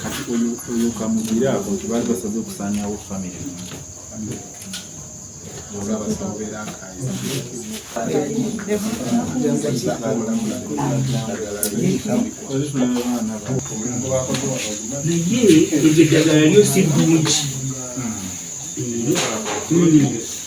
kati oyo oyo kamugira ako nti baali basaze okusaanyawo famire naye eddagala lyo si ddungi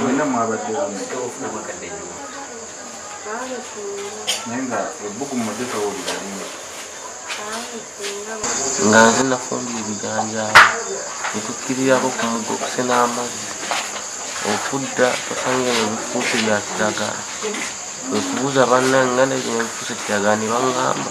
mwena mwabadde naye nga ebbugu mudde towulira linga nga nze nafumbira ebijanjaalo netukkirirako ku mugo okusena amazzi okudda osanga ebyo bifuuse bya kiragala okubuuza banna nga nebyo bifuuse kiragala ne baŋŋamba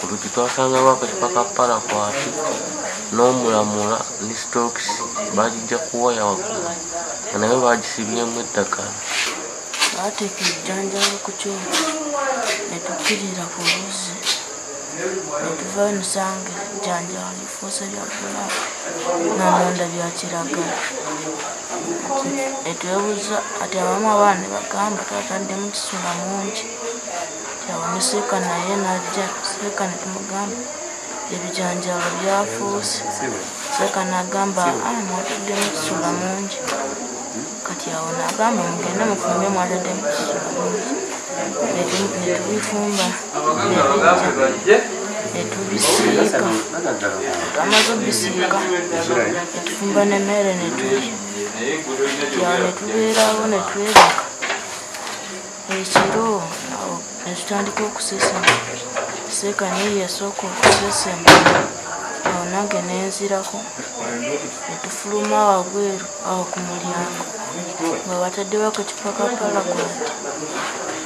Ku luggi twasangawo akacupa ka parakwati n'omulamula ne sitookisi baagijja ku waya waggulu nga nayo baagisibyemu eddagala. Baateeka ebijanjaalo ku kyoto ne tukkirira ku luzzi ne tuva emisango ebijanjaalo lifuuse lya bbulaaku namunda bya kiragala ne twebuuza kati abamu abaana ne bagamba twataddemu kisula mungi. Awo ne Seeka naye n'ajja. Seeka ne tumugamba ebijanjaalo byafuuse. Seeka n'agamba ah, mwataddemu ekisula mungi. Kati awo n'agamba mugende mufumbe mwataddemu ekisula mungi. Ne tu- ne tubifumba ne bijja ne tubisiika. Twamaze obisiika ne tufumba n'emmere ne tulya. Kati awo ne tubeerawo ne twebaka. ekiro awo netutandika okusesema seeka naye yasooka okusesema awo nange nenzirako netufuluma wabweru awo ku mulyango nga bataddewako kipakapala kwati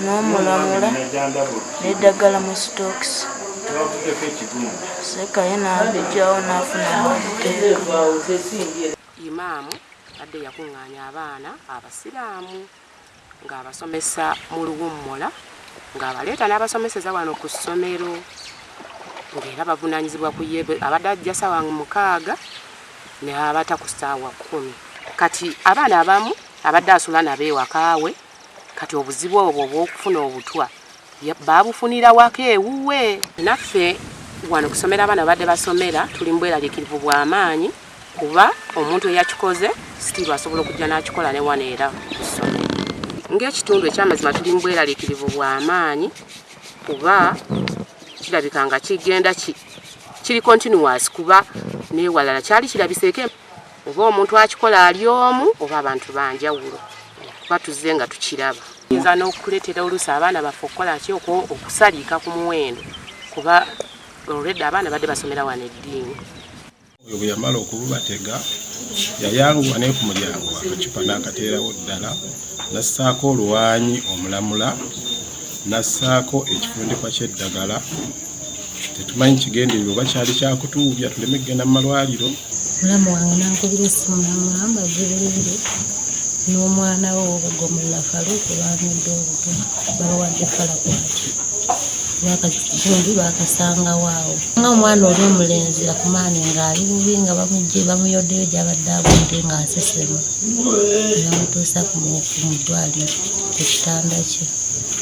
n'omulamula n'eddagala mu sitookisi sekaye n'abijjawo n'afunamu obuteeka imaamu adde yakuŋŋaanya abaana abasiraamu ng'abasomesa mu luwummula ng'abaleeta n'abasomeseza wano ku ssomero ng'era bavunaanyizibwa ku ye abadde ajja saawa mukaaga n'abata ku ssaawa kkumi kati abaana abamu abadde asula nabo ewakaawe kati obuzibu obwo obw'okufuna obutwa baabufunira waka ewuwe naffe wano kusomera abaana babadde basomera tuli mbweralikirivu bwa maanyi kuba omuntu eyakikoze sitiiru asobola okujja n'akikola ne wano era kusomera ng'ekitundu ekyamazima tuli mbweralikirivu bwa maanyi kuba kirabika nga kigenda kiri continuous kuba newalala kyali kirabiseeko oba omuntu akikola ali omu oba abantu banjawulo kuba tuzze nga tukiraba yinza n'okukuleetera oluusi abaana baffe okukola ki okusaliika ku muwendo kuba olwedda abaana badde basomera wano eddiini oyo bwe yamala okububatega yayanguwa naye ku mulyango akacupa n'akateerawo ddala nassaako oluwanyi omulamula nassaako ekifundikwa ky'eddagala tetumanyi kigendererwa oba kyali kyakutuubya tuleme kugenda mu malwaliro mulamu wange nankubira essimu namugamba gibulire n'omwana we obugomulla faluku bamudde obuto babawadde falakwaki bakakitundu bakasangawo awo nga omwana oli omulenzi akumaani ng'ali bubi nga bamugye bamuyoddeyo gyabadde abudde ng'asesema namutuusa mu ddwaliro ku kitanda kye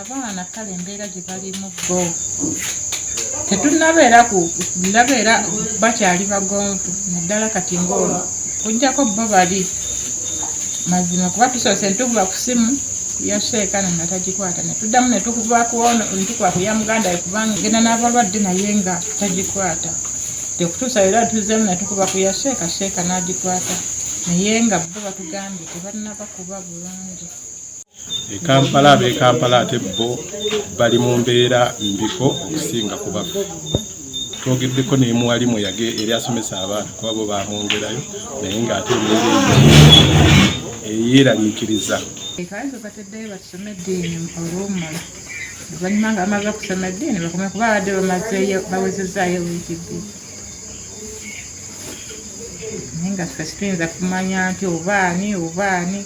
abaana kale embeera gye balimu bo tetunabeera ku nabeera bakyali bagonvu naddala kati ngaolwo kujjako bo bali mazima kuba tusoose ntukuba ku simu yaseekana nga tagikwata netuddamu netukuba kuono ntukuba ku ya muganda ye kubanga genda n'abalwadde naye nga tagikwata tekutuusa era tuzeemu netukuba ku ya sheeka sheeka n'agikwata naye nga bo batugambye tebanaba kuba bulungi e kampala ab'e kampala ate bo bali mu mbeera mbiko okusinga ku baffe twogeddeko nemuwalimu yage eri asomesa abaana kuba bo bamwongerayo naye ng'ate eyeraliikiriza ekaizo bateddeyo basome eddiini olwomala oluvanyuma nga bamaze okusoma eddiini bakome kuba abadde bamazeyo bawezezaayo wiiki bbiri naye nga ffe situyinza kumanya nti obaani obaani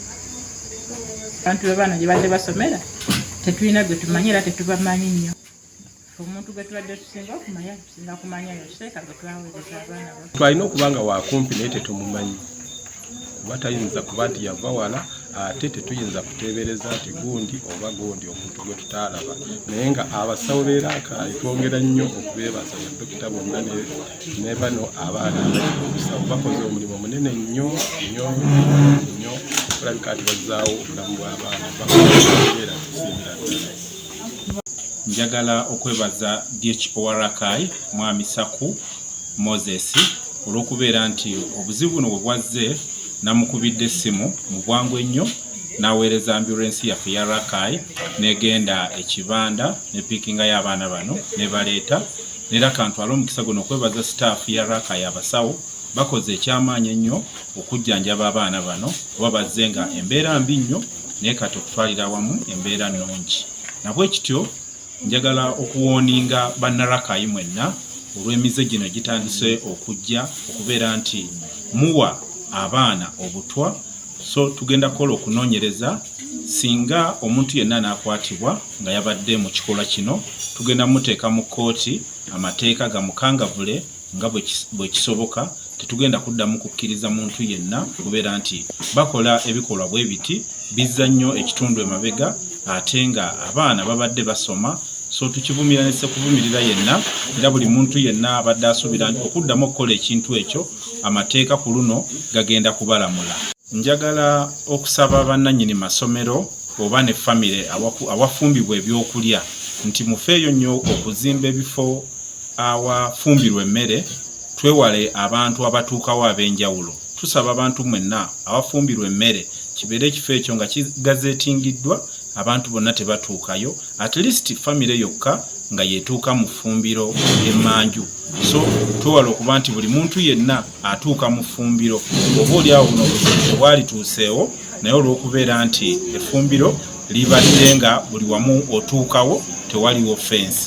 abantu bebaana gyebadde basomera tetulina gwe tumanyi era tetubamanyi nnyo omuntu gwe tubadde tusinga okumanya tusinga kumanya yoseeka gwe twaweereza abaana ba twalina okuba nga wakumpi naye tetumumanyi kuba tayinza kuba nti yava wala ate tetuyinza kuteebereza nti gundi oba gundi omuntu gwe tutaalaba naye nga abasawo beeraakaayi twongera nnyo okubeebaza badokita bonna ne bano abaana abayimusawo bakoze omulimu munene nnyo nnyo nnyo olabika ati bazzaawo obulamu bw'abaana bakubeera tusiimira ddala njagala okwebaza dhowarakai mwami saku moses olw'okubeera nti obuzibu buno bwe bwazze namukubidde essimu mu bwangu ennyo n'aweereza ambulensi yaffe ya rakai n'egenda ekibanda ne piikingayo abaana bano ne baleeta Era kantwale omukisa guno okwebaza sitaafu ya Raaka y'abasawo bakoze ekyamaanyi ennyo okujjanjaba abaana bano kuba bazze nga embeera mbi nnyo naye kati okutwalira awamu embeera nnungi nabwe kityo njagala okuwooninga bannarakayi mwenna olw'emize gino gitandise okujja okubeera nti muwa abaana obutwa so tugenda kukola okunoonyereza singa omuntu yenna n'akwatibwa nga yabadde mu kikolwa kino tugenda muteeka mu kkooti amateeka gamukangavule nga bwe kisoboka tetugenda kuddamu kukkiriza muntu yenna kubeera nti bakola ebikolwa bwe biti bizza nnyo ekitundu emabega ate nga abaana babadde basoma so tukivumira nese kuvumirira yenna era buli muntu yenna abadde asuubira okuddamu okukola ekintu ekyo amateeka ku luno gagenda kubalamula. Njagala okusaba bannannyini masomero oba ne famire awafumbibwa ebyokulya nti mufeeyo nnyo okuzimba ebifo awafumbirwa emmere twewale abantu abatuukawo ab'enjawulo. Tusaba abantu mwenna awafumbirwa emmere kibeere ekifo ekyo nga kigazeetingiddwa abantu bonna tebatuukayo at least famire yokka nga yetuuka mu ffumbiro ly'emmanju. so twewala okuba nti buli muntu yenna atuuka mu ffumbiro oba oli awo buno obuzibu obwalituuseewo naye olw'okubeera nti effumbiro libadde nga buli wamu otuukawo tewaliwo fensi